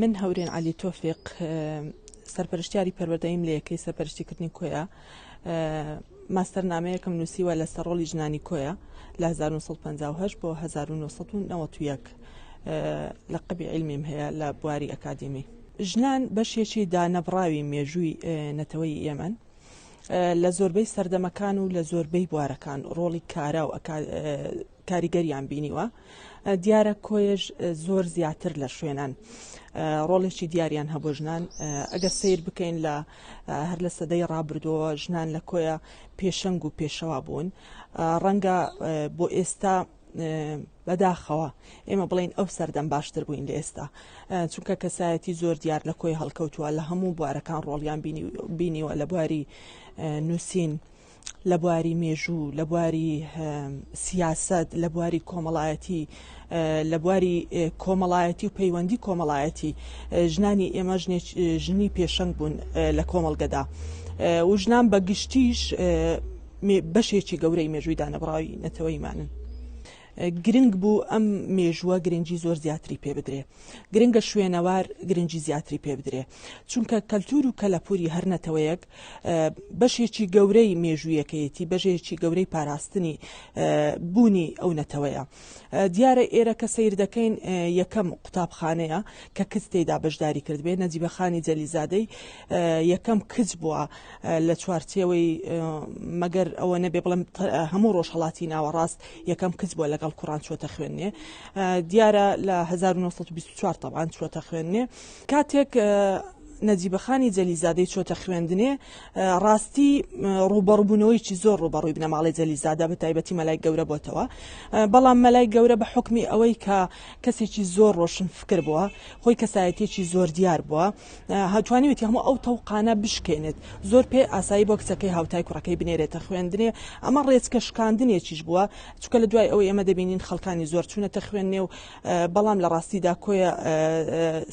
من هەورێن عەلی تۆفیق سەرپەرشتیاری پەروەردەیم لە یەکەی سەرپەرشتیکردنی کۆیە ماستەر نامەیەکم نووسیوە لە سەرۆڵی ژنانی کۆیە لە 1950 بۆ 1991 لە قبی علمیم هەیە لە بواری ئەکادیمی ژنان بەشێکی دانەبڕاوی مێژووی نەتەوەی ئێمەن لە زۆربەی سەردەمەکان و لە زۆربەی بوارەکان ڕۆڵی کارا و کاریگەریان بینیوە دیارە کۆیش زۆر زیاتر لە شوێنان ڕۆڵێکی دیاریان هەبوو ژنان ئەگەر سیر بکەین لە هەر لە سەدەی ڕابردووە ژنان لە کۆیە پێشەنگ و پێشەوا بوون ڕەنگە بۆ ئێستا بەداخەوە ئێمە بڵین ئەو سەردەم باشتر بووین لە ئێستا چونکە کەسایەتی زۆر دیار لە کۆی هەڵکەوتووە لە هەموو بوارەکان ڕۆڵیان بینیوە لە بواری نووسین لە بواری مێژوو، لە بواری سیاسەت، لە بواری کۆمەڵایەتی، لە بواری کۆمەڵایەتی و پەیوەندی کۆمەڵایەتی ژنانی ئێمە ژنی پێشەنگ بوون لە کۆمەڵگەدا و ژنان بە گشتیش بەشێکی گەورەی مێژووی دانەبڕاوی نەتەوەیمانن. گرنگ بوو ئەم مێژووە گرنگی زۆر زیاتری پێ بدرێ گرنگە شوێنەوار گرنگی زیاتری پێ بدرێ چونکە کەلتور و کەلەپوری هەرنەتەوەیەک بەشێکی گەورەی مێژوویەکەیەتی، بەژێکی گەورەی پاراستنی بوونی ئەو نەتەوەیە. دیارە ئێرە کە سەیر دەکەین یەکەم قوتابخانەیە کە کچ تێیدا بەشداری کردبێ، نەجیبە خانی جەلیزادەی یەکەم کچ بووە لە چوارچێوەی مەگەر ئەوە نەبێ بڵێم هەموو ڕۆژهەڵاتی ناوەڕاست یەکەم کچ بووە لەگەڵ کوڕان چووەتە خوێندنێ. دیارە لە 1924 تەبان چووەتە خوێندنێ. کاتێک نەجیبەخانی جەلیزادەی چۆتە خوێندنێ ڕاستی ڕووبەڕبوونەوەیکی زۆر ڕووبەڕووی بنەماڵی جەلیزادە بە تایبەتی مەلای گەورە بۆتەوە بەڵام مەلای گەورە بە حکمی ئەوەی کە کەسێکی زۆر ڕۆشن فکر بووە خۆی کەسایەتێکی زۆر دیار بووە هاتوانیوێتی هەموو ئەو تەوقانە بشکێنێت زۆر پێ ئاسایی بۆ کچەکەی هاوتای کوڕەکەی بنێرێتە خوێندنێ ئەمە ڕێچکە شکاندنێکیش بووە چکە لە دوای ئەوەی ئەمە دەبینین خەڵکانی زۆر چوونەتە خوێندنێ و بەڵام لە ڕاستیدا کۆیە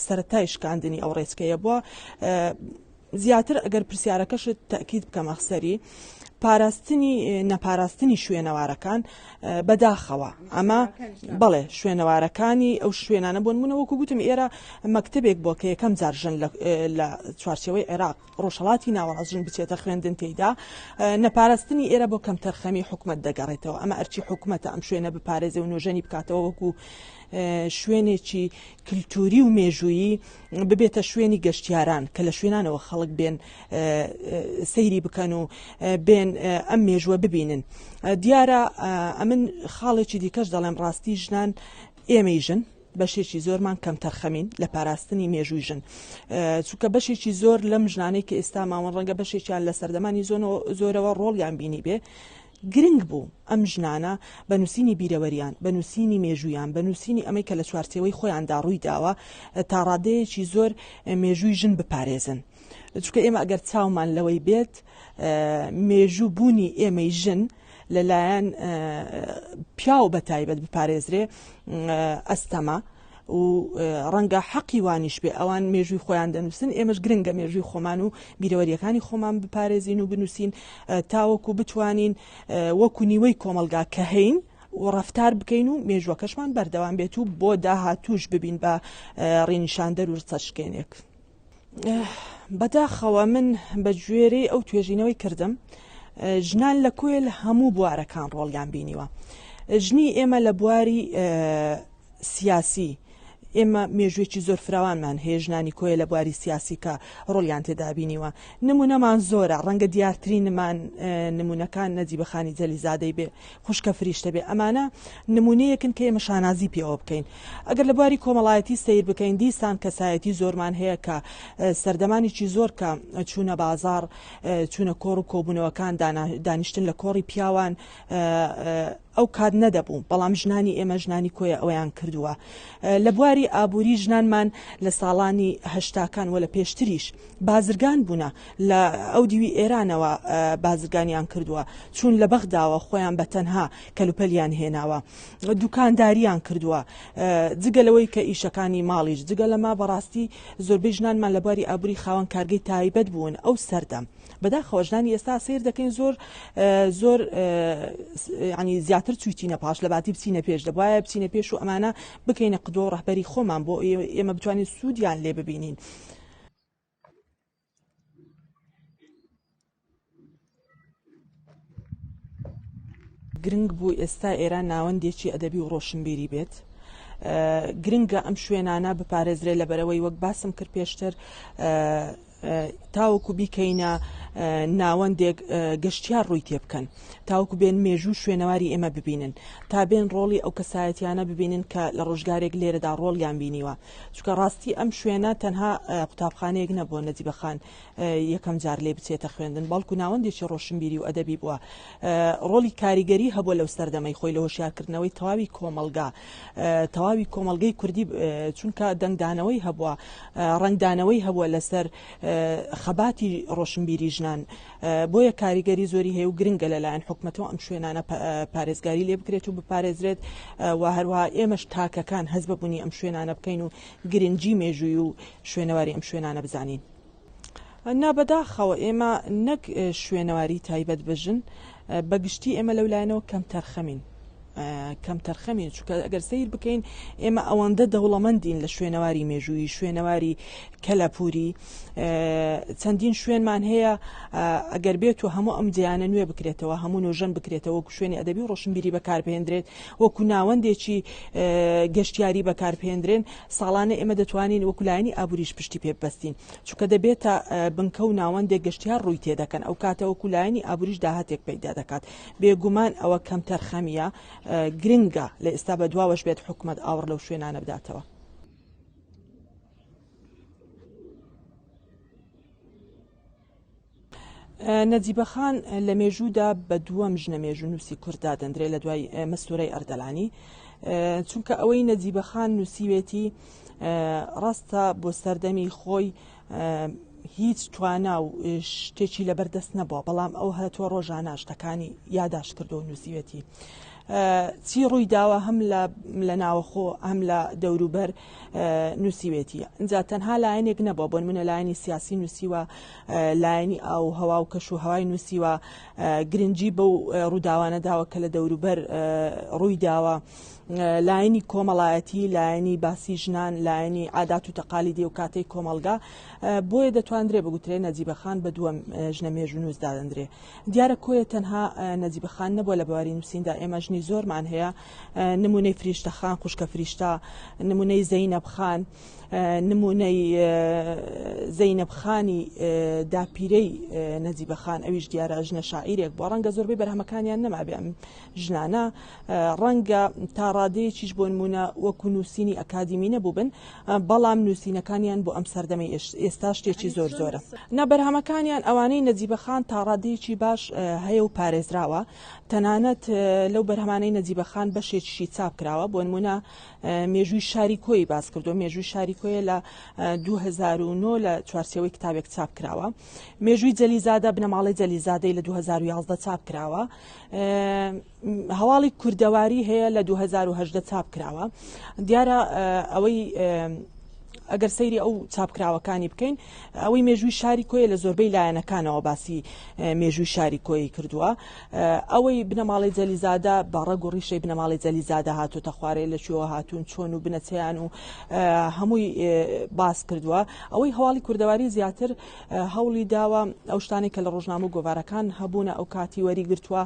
سەرەتای شکاندنی ئەو ڕێچکەیە بووە زیاتر ئەگەر پرسیارەکەشت تاکیید بکەمە سەری پاراستنی نەپاراستنی شوێنەوارەکان بەداخەوە ئەمە بەڵێ شوێنەوارەکانی ئەو شوێنانە بۆن منەوەکو گوتم ئێرە مەکتتەبێک بۆ کە یەکەم جارژن لە چوارچەوەی عێراق ڕۆژهەڵاتی ناوەڕاست ژن بچێتە خوێندن تێیدا نەپارستنی ئێرە بۆ کەمتەرخەمی حکومت دەگەڕێتەوە ئەمە ئەرچی حکومەتە ئەم شوێنە بپارێزێ و نۆژەنی بکاتەوە وەکو شوێنێکی کللتوری و مێژویی ببێتە شوێنی گەشتیاران کە لە شوێنانەوە خەڵک بێن سەیری بکەن و بێن ئەم مێژوە ببینن دیارە ئەمن خاڵێکی دیکەش دەڵێم ڕاستی ژنان ئێمەی ژن بەشێکی زۆرمان کەمتەرخەمین لە پاراستنی مێژووی ژن چونکە بەشێکی زۆر لەم ژنانەی کە ئێستا ماوەن ڕەنگە بەشێکیان لە سەردەمانی زۆرەوە ڕۆڵیان بینی بێ گرنگ بوو ئەم ژنانە بە نووسینی بیرەوەریان بە نووسینی مێژویان بە نووسینی ئەمەی کە لە چوارچەوەی خۆیاندا ڕووی داوە تا ڕادەیەکی زۆر مێژووی ژن بپارێزن. چکە ئێمە ئەگەر چاومان لەوەی بێت مێژوو بوونی ئێمەی ژن لەلایەن پیاو بە تایبەت بپارێزرێ ئەستەمە. و ڕەنگە حەقی وانیش بێ ئەوان مێژووی خۆیان دەنووسن ئێمەش گرنگە مێژووی خۆمان و بیرەوەریەکانی خۆمان بپارێزین و بنووسین تاوەکو بتوانین وەکو نیوەی کۆمەلگا کە هەین و ڕفتار بکەین و مێژوەکەشمان بەردەوام بێت و بۆ داهاتوش ببین بە ڕینیشاندەر و ڕچەشکێنێک. بەداخەوە من بە گوێرەی ئەو توێژینەوەی کردم ژنان لە کۆیل هەموو بوارەکان ڕۆڵیان بینیوە ژنی ئێمە لە بواری سیاسی ئێمە مێژوێکی زۆر فراوانمان هەیە ژنانی کۆیە لە بواری سیاسیکە ڕۆلیان تێدابینیوە نمونەمان زۆرە ڕەنگە دیارترینمان نمونونەکان نەجی بەخانی جەلیزادەی بێ خوشکە فریشتە بێ ئەمانە نمونەیەکن کە ئێمە شانازی پێوە بکەین ئەگەر لە بواری کۆمەڵایەتی سەیر بکەین دیسان کەسایەتی زۆرمان هەیە کە سەردەمانێکی زۆر کە چوونە بازار چوونە کۆڕ و کۆبوونەوەکان دانیشتن لە کۆڕی پیاوان ئەو کات نەدەبوو بەڵام ژنانی ئێمە ژنانی کۆیە ئەویان کردووە لە بواری ئابووری ژنانمان لە ساڵانی هەشتاکان وە لە پێشتریش بازرگان بوونە لە ئەو دیوی ئێرانەوە بازرگانیان کردووە چون لە بەغداوە خۆیان بە تەنها کەلوپەلیان هێناوە دوکانداریان کردووە جگە لەوەی کە ئیشەکانی ماڵیش جگە لەما بەڕاستی زۆربەی ژنانمان لە باری ئابووری خاوەن کارگەی تایبەت بوون ئەو سەردەم بەداخەوە ژنانی ئێستا سیر دەکەین زۆر زۆر ینی زیاتر چویتینە پاش لە باتی بچینە پێش دەبواە بچینە پێش و ئەمانە بکەینە قدۆ ڕەهبەری خۆمان بۆ ئێمە بتوانین سوودیان لێ ببینین. گرنگ بوو ئێستا ئێران ناوەندێکی ئەدەبی و ڕۆشنبیری بێت گرنگە ئەم شوێنانە بپارێزرێ لە بەرەوەی وەک باسم کرد پێشتر تاوەکو بیکەینە ناوەندێک گەشتیار ڕووی تێ بکەن تاوەکو بێن مێژوو شوێنەواری ئێمە ببینن تا بێن ڕۆڵی ئەو کەسایەتیانە ببینن کە لە ڕۆژگارێک لێرەدا ڕۆڵیان بینیوە چونکە ڕاستی ئەم شوێنە تەنها قوتابخانەیەک نەبووە نەجیبە خان یەکەم جار لێ بچێتە خوێندن بەڵکو ناوەندێکی ڕۆشنبیری و ئەدەبی بووە ڕۆلی کاریگەری هەبووە لەو سەردەمەی خۆی لە هۆشیارکردنەوەی تەواوی کۆمەلگا تەواوی کۆمەلگەی کوردی چونکە دەنگدانەوەی هەبووە ڕنگدانەوەی هەبووە لەسەر خەباتی ڕۆشنبیری ژنان بۆیە کاریگەری زۆری هەیە و گرنگە لەلایەن حکومەتەوە ئەم شوێنانە پارێزگاری لێ بکرێت و بپارێزرێت و هەروها ئێمەش تاکەکان هەز بەبوونی ئەم شوێنانە بکەین و گرنگجی مێژووی و شوێنەواری ئەم شوێنانە بزانین. نابەداخەوە ئێمە نەک شوێنەواری تایبەت بە ژن بە گشتی ئێمە لەولایەنەوە کەمتەرخەمین. کەمتەرخەمین چکە ئەگەر سیر بکەین ئێمە ئەوەندە دەوڵەمەندین لە شوێنەواری مێژووی شوێنەواری کەلەپوری چەندین شوێنمان هەیە ئەگەر بێت و هەموو ئەم جیانە نوێ بکرێتەوە هەموو نۆژەن بکرێتەوە شوێنی ئەدەبی و ڕۆشنبیری بەکاربهێندرێت وەکو ناوەندێکی گەشتیاری بەکاربهێندرێن ساڵانە ئێمە دەتوانین وەکولایانی ئابووریش پشتی پێ بەستین چکە دەبێتە بنکە و ناوەندێک گەشتیار ڕووی تێدەکەن ئەو کاتە وەکولایانی ئابووریش داهاتێک پەیدا دەکات بێگومان ئەوە کەمتەرخەمییە، گرنگە لە ئێستا بەدواوەش بێت حکومەت ئاوڕ لەو شوێنانە بداتەوە. نەجیبەخان لە مێژوودا بە دووەم ژنە مێژوو نووسی کورد دادەندرێت لە دوای مەستورەی ئەردەلانی چونکە ئەوەی نەجیبەخان نووسیوێتی ڕاستە بۆ سەردەمی خۆی هیچ توانا و شتێکی لەبەر دەست نەبووە بەڵام ئەو هەتووە ڕۆژانە شتەکانی یاداش کردو و نووسیوەتی چی ڕووی داوە هەم لە ناوەخۆ هەم لە دەوروبەر نووسیوێتی اینجا تەنها لایەنێک نەبووە بۆن منە لایەنی سیاسی نووسیوە لایەنی ئاو هەوا و کەش و هەوای نووسیوە گرنگجی بەو ڕووداوانە داوە کە لە دەوروبەر ڕووی داوە لایەنی کۆمەڵایەتی لایەنی باسی ژنان لایەنی عادات و تەقالی دی و کاتەی کۆمەلگا بۆیە دەتواندرێ بگوترێ نەجیبەخان بە دووەم ژنە مێژونووس دادەندرێ دیارە کۆیە تەنها نەجیبەخان نەبووە لە بواری نووسیندا ئێمە ژنی زۆرمان هەیە نمونەی فریشتەخان خوشکە فریشتا نمونەی زەینەبخان نمونەی زەینەبخانی داپیرەی نەجیبەخان ئەویش دیارە ژنە شاعیرێک بۆ ڕەنگە زۆربەی بەرهەمەکانیان نەمابێ ژنانە، ڕەنگە تا ڕادەیەکیش بۆنموونە وەکو نووسینی ئەکادیمی نەبووبن، بەڵام نووسینەکانیان بۆ ئەم سەردەمەی ئێستا شتێکی زۆر زۆرە. نا، بەرهەمەکانیان ئەوانەی نەجیبە خان تا ڕادەیەکی باش هەیە و پارێزراوە، تەنانەت لەو بەرهەمانەی نەجیبە خان بەشێکیشی چاپ کراوە، بۆنموونە مێژووی شاری کۆیی باس کردووە، مێژووی شاری کۆیە لە دوو هەزار و نۆ لە چوارچێوەی کتابێک چاپ کراوە، مێژووی جەلیزادە، بنەماڵەی جەلیزادەی لە دوو هەزار و یازدە چاپ کراوە، هەواڵی کوردەواری هەیە لە 2010 چاپ کراوە دیارە ئەوەی ئەگەر سەیری ئەو چاپکراوەکانی بکەین ئەوەی مێژووی شاری کۆیە لە زۆربەی لایەنەکانەوە باسی مێژووی شاری کۆی کردووە ئەوەی بنەماڵی جەلیزادە باڕە گوڕیشەی بنەماڵی جەلیزادە هاتوتە خوارێ لە شوێوە هاتوون چۆن و بنەچیان و هەمووی باس کردووە ئەوەی هەواڵی کوردەواری زیاتر هەوڵی داوە ئەو شتانێک کە لە ڕۆژنامە و گۆوارەکان هەبوونە ئەو کاتی وەریگرتووە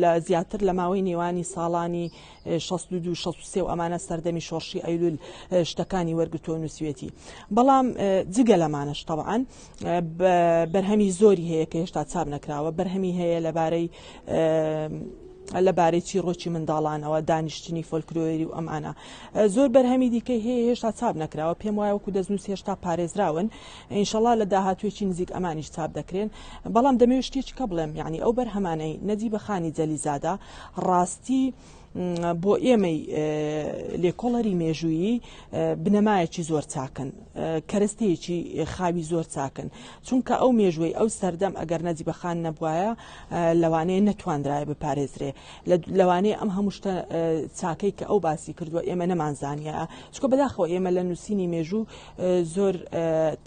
لە زیاتر لە ماوەی نێوانی ساڵانی 1960 و ئەمانە سەردەمی شۆڕشی ئەیلول شتەکانی وەرگتو و نووسوێتی بەڵام جگە لەمانەش طبعاان بەرهەمی زۆری هەیە کە هێشتا چاپ نەکراوە بەرهەمی هەیە لەبارەی لە بارەی چیڕۆکی منداڵانەوە، دانیشتنی فۆلکلۆری و ئەم ئانا. زۆر بەرهەمی دیکەی هەیە هێشتا چاپ نەکراوە، پێم وایە وەکو دەستنووس هێشتا پارێزراون، ئینشەڵا لە داهاتوویەکی نزیک ئەمانیش چاپ دەکرێن، بەڵام دەمەوێت شتێکیکە بڵێم، یانی ئەو بەرهەمانەی نەجیبە خانی جەلیزادە ڕاستی بۆ ئێمەی لێکۆڵەری مێژوویی بنەمایەکی زۆر چاکن، کەرەستەیەکی خاوی زۆر چاکن، چونکە ئەو مێژووەی ئەو سەردەم ئەگەر نەجیبە خان نەبوایە لەوانەیە نەتواندرایە بپارێزرێ لەوانەیە ئەم هەموو شتە چاکەی کە ئەو باسی کردووە ئێمە نەمانزانە چکە بەداخەوە ئێمە لە نووسینی مێژوو زۆر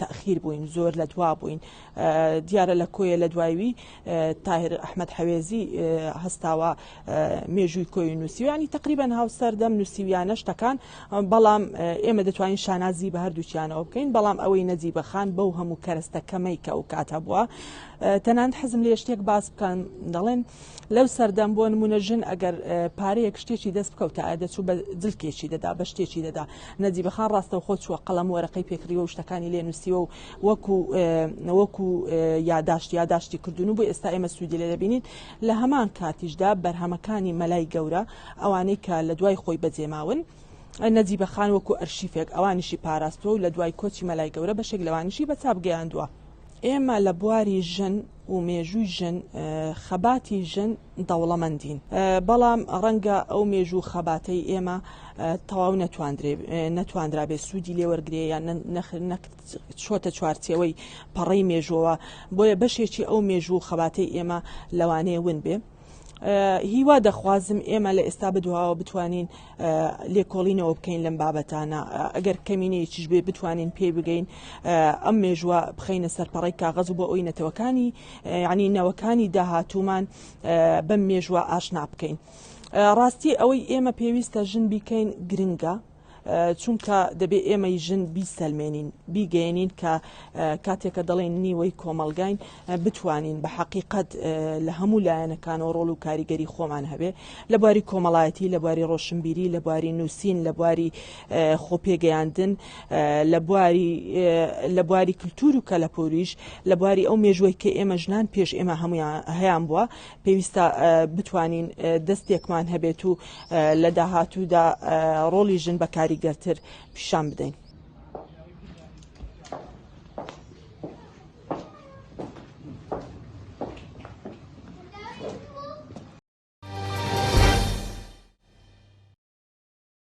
تاخیر بووین زۆر لە دوا بووین دیارە لە کۆیە لە دوایوی تاهر ئەحمد حەوێزی هەستاوە مێژووی کۆی نووسیوانی تقریبان هاوسەردەم نووسیویانە شتەکان بەڵام ئێمە دەتوانین شانازی بە هەردووچیانەوە بکەین بەڵام ئەوەی نەجی بەخان بەو هەموو کەرستە کەمەی کە ئەو کاتە بووە تەنانەت حەزم لێ شتێک باس بکەم دەڵێن لەو سەردەم بۆ نمونە ژن ئەگەر پارەیەک شتێکی دەست بکەوتایە دەچوو بە جلکێکی دەدا بە شتێکی دەدا نەجی بەخان ڕاستەو خۆ چووە قەڵەم وەرەقەی پێکریوە شتەکانی لێ نووسیوە و وەکو وەکو یاداشت یاداشتی کردوون و بۆ ئێستا ئێمە سوودی لێ دەبینین لە هەمان کاتیشدا بەرهەمەکانی مەلای گەورە ئەوانەی کە لە دوای خۆی بەجێماون. نەجیبە خان وەکو ئەرشیفێک ئەوانیشی پاراستووە و لە دوای کۆچی مەلای گەورە بەشێک لەوانیشی بە چاپ گەیاندووە. ئێمە لە بواری ژن و مێژووی ژن خەباتی ژن دەوڵەمەندین بەڵام ڕەنگە ئەو مێژوو خەباتەی ئێمە تەواو نەتواندرابێ سوودی لێوەرگێ یان چۆتە چوارچەوەی پەڕەی مێژوەوە بۆیە بەشێکی ئەو مێژوو خەباتی ئێمە لەوانەیە ون بێ. هیوا دەخوازم ئێمە لە ئێستا بدواوە بتوانین لێکۆڵینەوە بکەین لەم بابەتانە ئەگەر کەمینەیەکیش بێ بتوانین پێی بگەین ئەم مێژوە بخینە سەرپەڕی کاغەز و بۆ ئەوی نەتەوەکانی ینی نەوەکانی داهاتومان بەم مێژوە ئاشنا بکەین. ڕاستی ئەوەی ئێمە پێویستە ژن بیکەین گرنگە چونکە دەبێ ئێمەی ژن بیسەلمێنین بیگەێنین کە کاتێکە دەڵێن نیوەی کۆمەلگاین بتوانین بە حقیقت لە هەموو لایەنەکانەوە ڕۆڵ و کاریگەری خۆمان هەبێ لە باری کۆمەڵایەتی لە باری ڕۆشنبیری لە باری نووسین لە باری خۆپێگەیاندن لە باری کللتور و کەلەپوریش لە باری ئەو مێژوەی کە ئێمە ژنان پێش ئێمە هەمویان هەیان بووە پێویستە بتوانین دەستێکمان هەبێت و لە داهاتوودا ڕۆڵی ژن بە کاریگەرتر پیشان بدەین.